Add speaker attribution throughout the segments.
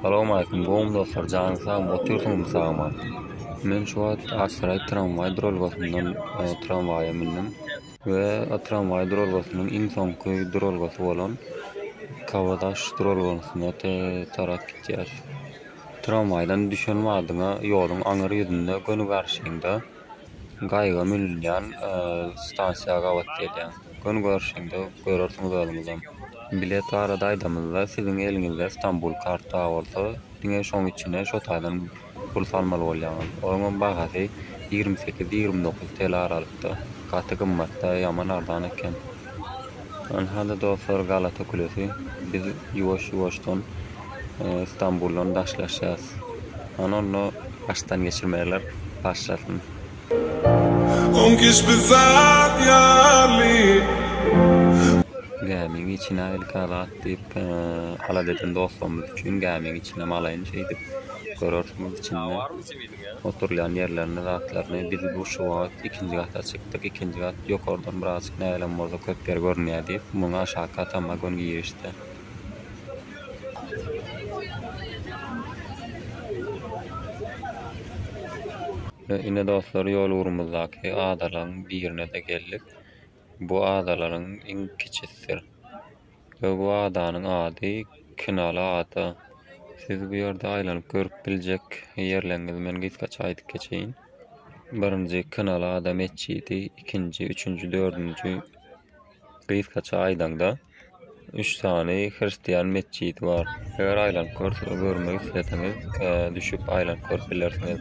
Speaker 1: Salowmaleýkim gowmy dostlar janyň sagmy otyrsyňyzmy sag aman men şu wagt Aksaraý tramwaý duralgasyndan tramwaýa mündüm we tramwaý duralgasynyň iň soňky duralgasy bolan Kabadaş duralgasyna tarap gidýäs tramwaýdan düşen badyňa ýoluň aňyr ýüzünde göni garşyňda Gaýyga münülýän stansiýa gabat gelýäň. Göni görüşende görersiňiz özüňizem. Bilet barada aýdamyzda, siziň eliňizde Stambul karty bar bolsa, diňe şoň içine şo taýdan pul salmaly bolýaňyz. Onuňam bahasy ýigrimi sekiz, ýigrimi dokuz TL aralykda. Gaty gymmat-da, ýaman arzan eken. Ol hali dostlar galata kulesi. Biz ýuwaş ýuwaşdan Stambuldan daşlaşýas. Ony onda başdan geçirmeler başlasyn. Oň giç bir zat ýaly. Gämiň içine ilki Azat diýip alat eden dostlarymyz üçin gämiň içinem alaýyn şeýdip görersiňiz içinde. oturylýan ýerlerini, zatlaryny biz bu şu wagt ikinji gata çykdyk, ikinji gat ýokardan birazjyk näleň bolsa köp ýer görünýär diýip, muňa aşaky atamma göni girişdi. Ine, dostlar, ýol-ugurymyzdaky adalaryň birine-de geldik. Bu adalaryň iň kiçisidir. Öw adanyň ady Kinaly ada. Siz bu ýerde aýlanyp görüp biljek ýerleriňizi men gysgaça aýdyp geçeýin. Birinji Kinaly ada metjidi, ikinji, üçünji, dördünji gysgaça aýdaňda üç sany hristiýan metjidi bar. Eger aýlanyp görmegi isleseňiz, düşüp aýlanyp görüp bilersiňiz.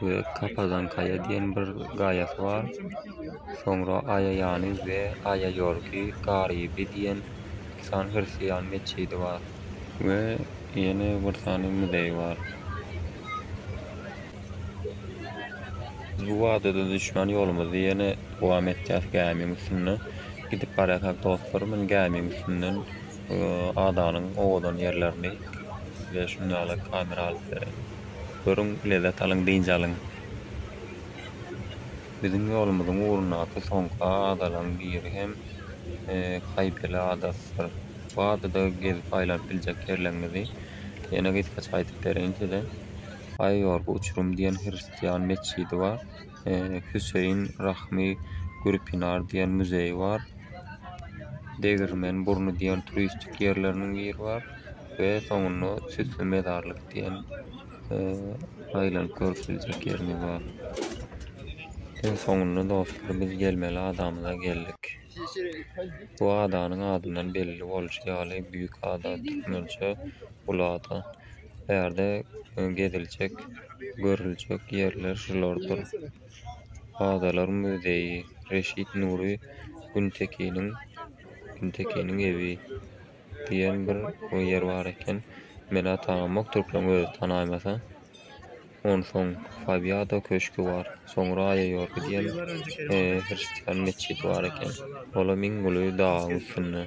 Speaker 1: we Kapadankaýa diýen bir gaýasy bar. Soňra Aýaýany we Aýaýorgi Garyby diýen iki sany hristiýan metjidi bar. We ýene bir sany muzeý bar. Biz bu adada düşmän ýolumyzy ýene dowam etýäs gämiň üstünde. Gidip barýarkak dostlar men gämiň üstünden adanyň owadan ýerlerini size şunda ýaly kamera alyp bereýin. Görüň, lezzet alyň, dynç alyň. Biziň ýolumyzyň ugrundaky soňky adalaryň biri hem Kaýpeli adasydyr. Bu adada gezip aýlanyp biljek ýerleriňizi ýene gysgaça aýdyp bereýin size. Aýyorgy uçurum diýen hristian metjidi bar. Hüseýin Rahmi Gürpinar diýen muzeý bar. Degirmen burny diýen turistik ýerleriniň biri bar we soňunda Süsli mezarlyk diýen aýlanyp görüp biljek ýerimiz bar. Iň soňunda dostlar biz gelmeli adamyza geldik. Bu adanyň adyndan belli bolşy ýaly Büýük ada, türkmençe, uly ada. Bu ýerde geziljek, görüljek ýerler şulardyr. Adalar muzeýi, Reşit Nury Güntekiniň Güntekiniň ewi diýen bir ýer bar eken. Mela tanamok türkmen özi tanaýmasa. Onsoň Fabiado köşgi bar. Soňra Aýaýorgy diýen e, hristian metjidi bar eken. Olam iň uly dagyň üstünde.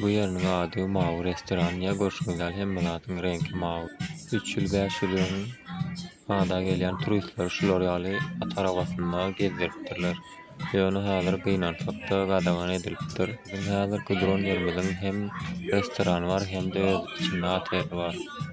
Speaker 1: Bu ýeriniň ady mawy restoran ýa görşüňiz ýaly hemme zadyň reňki mawy. Üç ýyl bäş ýyl öň ada gelýän turistleri şular ýaly at arabasynda gezdiripdirler. Ýöne häzir gynansakda gadagan edilipdir. Biziň häzirki duran ýerimiziň hem restorany bar hem-de öz içinde oteli bar.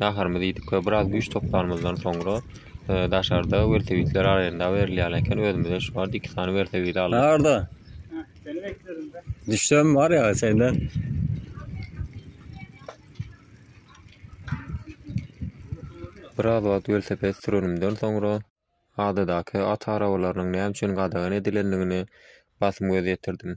Speaker 1: Naharymyzy iýdik we biraz güýç toplanymyzdan soňra daşarda welosipedler arenda berilýän eken. Özümizde şu wagt iki sany welosiped aldyk. Naharda. Seni bekledim
Speaker 2: ben.
Speaker 3: Düşsem var ya
Speaker 2: senden.
Speaker 1: Biraz wagt welosiped sürenimden soňra adadaky at arabalarynyň näme üçin gadagan edilendigini basym göz ýetirdim.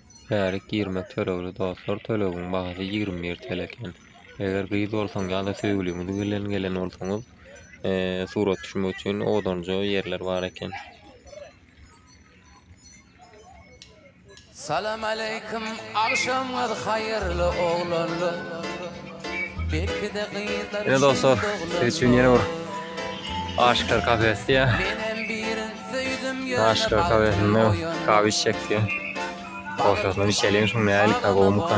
Speaker 2: Bärik
Speaker 1: girmek tölegli dostlar tölegiň bahasy ýigrimi bir TL eken. Eger gyz bolsaň ýa-da söýgüliňiz bilen gelen bolsaňyz, eee, surat düşmek üçin odanja ýerler bar eken.
Speaker 4: Salam aleýkum agşamyňyz haýyrly oglanlar. Ine dostlar,
Speaker 2: siz üçin ýene bir Aşyklar kafesi diýýär. Aşyklar kafesinde kawy içjek diýýär. Ortasyna içelim şuny nälikkä gowmyka.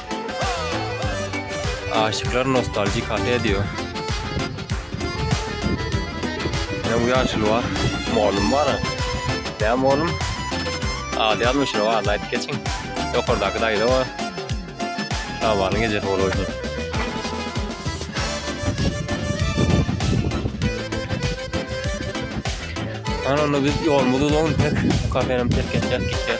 Speaker 2: Aşyklar nostalji kafe diýo. Ýa bu ýaşuly bar. Mugallym bara. Näme mugallym? Ady ýazmyşyn o adyny aýdyp geçiň. Ýokardaky daýza bar. Şabanyň ejesi bolup oýnaryn. Hany onda biz ýolumyzy uzalym pek. Bu kafenem terk etjek gitjek.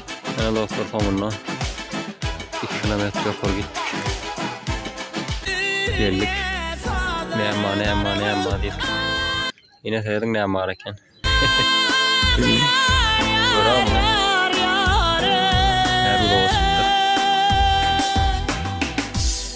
Speaker 2: Ýene dostlar soňunda 2 kilometr ýokary gitdik. Geldik. Näme, näme, näme diýip. Ýene sözüň näme bar eken.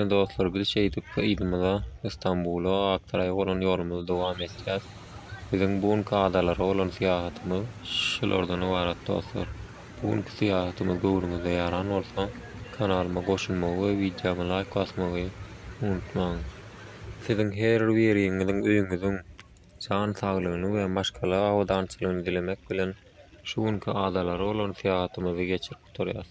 Speaker 2: Ine dostlar biz şeýdip yzymyza Istanbula Aktaraýa bolan ýolumyzy dowam etýäs. Biziň bu günki adalara bolan syýahatymyz şulardan ybarat dostlar. Bu günki syýahatymyz göwnüňize ýaran bolsa kanalyma goşulmagy we wideoma laýk basmagy unutmaň. Siziň her biriňiziň öýüňiziň jan saglygyny we maşgala abadançylygyny dilemek bilen şu günki adalara bolan syýahatymyzy geçirip gutarýas.